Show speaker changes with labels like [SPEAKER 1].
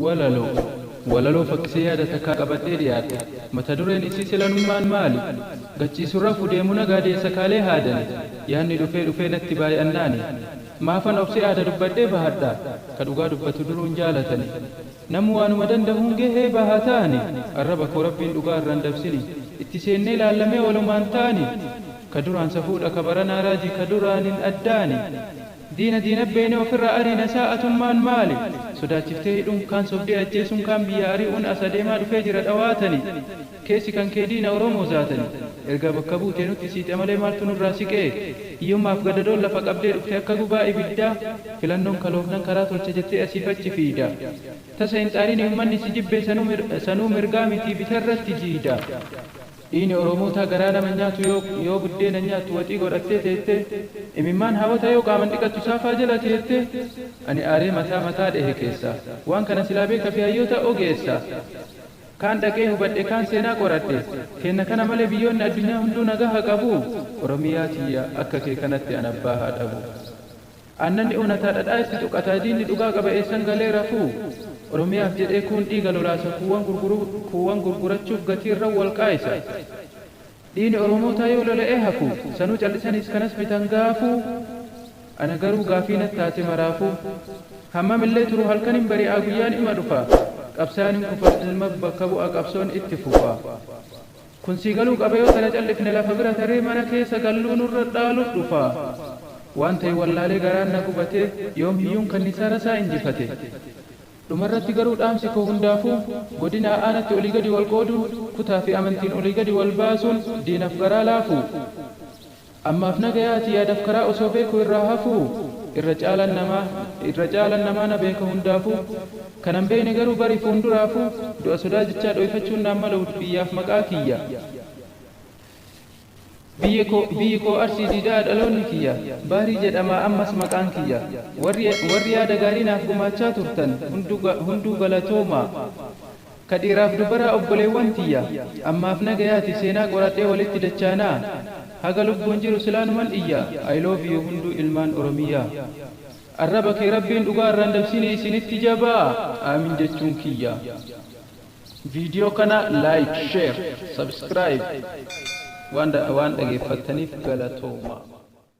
[SPEAKER 1] Walaloo. Walaloo fakkisee yaada takkaa qabadhee dhiyaadhe. Mata dureen isii Silanummaan maali? Gachiisu rafu deemu na gaadee sakaalee haadani. Yaanni dhufee dhufee natti baay'annaani. Maafan obse aada dubbadhee bahadha? Ka dhugaa dubbatu duruun jaalatani. Namu waanuma dandahuun gahee bahataani. Arraba koo Rabbiin dhugaa irra hin dabsini. Itti seennee laallamee walumaan taani. Ka duraan safuudha ka baranaa raaji ka duraanin addaani. Diina diina beene ofirraa ariina isaa atummaan maali sodaachiftee hidhuun kaan sobdee ajjeesuun kaan biyyaa ari'uun as adeemaa dhufee jira dhawaatani keessi kan kee diina oromoo zaatani ergaa bakka buutee nutti siixe malee maaltu nurraa siqee hiyyummaaf gadadoon lafa qabdee dhufte akka gubaa ibiddaa filannoon kaloofnan karaa tolcha jettee asiif achi fiiyda tasa hin xaarini ummanni si jibbee sanuu mirgaa mitii bitarratti jiiyda. Dhiini oromootaa garaa nama hin nyaatu yoo buddeena hin nyaattu waxii godhattee teettee imimmaan haawota yoo qaaman dhiqattu saafaa jala teettee ani aaree mataa mataa dhehe keessaa waan kana silaa beeka fi hayyoota ogeessa kaan dhaqee hubadhe kaan seenaa qoradhe keenna kana malee biyyoonni addunyaa hunduu nagaha qabuu oromiyaa tiyya akka kee kanatti an abbaa haa dhabu. Aannanni onataa dhadhaa itti xuqataa diinni dhugaa qaba eessan galee rafuu? Oromiyaaf jedhee kuun dhiiga lolaasa kuuwan gurguruu kuuwan gurgurachuuf gatii irran wal qaaysa. Dhiini oromootaa yoo lola'ee hafu sanuu cal'isaniis kanas bitan gaafuu? Ana garuu gaafii nat taate maraafuu. Hammam illee turu halkan hin bari'aa guyyaan ima dhufa. Qabsayan hin kufa ilmab bakka bu'a qabsoon itti fufa. Kun sii galuu qaba yoo tana callifne lafa bira taree mana keessa galluu nurra dhaalu dhufa waan ta'e wallaalee garaan na gubatee yoom hiyyuun kannisaa rasaa injifate Dhumarratti garuu dhaamsi koo hundaafuu godinaa aanatti olii gadi wal qooduun kutaa fi amantiin olii gadi wal baasuun diinaf garaa laafuu Ammaaf nagayaati yaadaf karaa osoo beeku irraa hafuu irra caalan namaa irra caalan namaa na beeka hundaafu kanan beeyne garuu bari fuunduraafu du'a sodaa jechaa dhooyfachuun naan malawud biyyaaf maqaa kiyya biyya koo biyyi koo arsii diida'a dhaloonni kiyya bahrii jedhamaa ammas maqaan kiyya warri warri yaada gaarii naaf gumaachaa turtan hunduu hunduu galatoomaa. Ka dhiiraaf dubaraa obboleewwan tiyya, ammaaf nagayaati seenaa qoradhee walitti dachaanaa? Haga lubbuun jiru silaanuman iyya I love you hunduu ilmaan oromiyya. Arraba kee rabbiin dhugaa irraan dabsiinii isiinitti jabaa Aamin jechuun kiyya. Video kana like, share, subscribe waan dhageeffattaniif galatoomaa.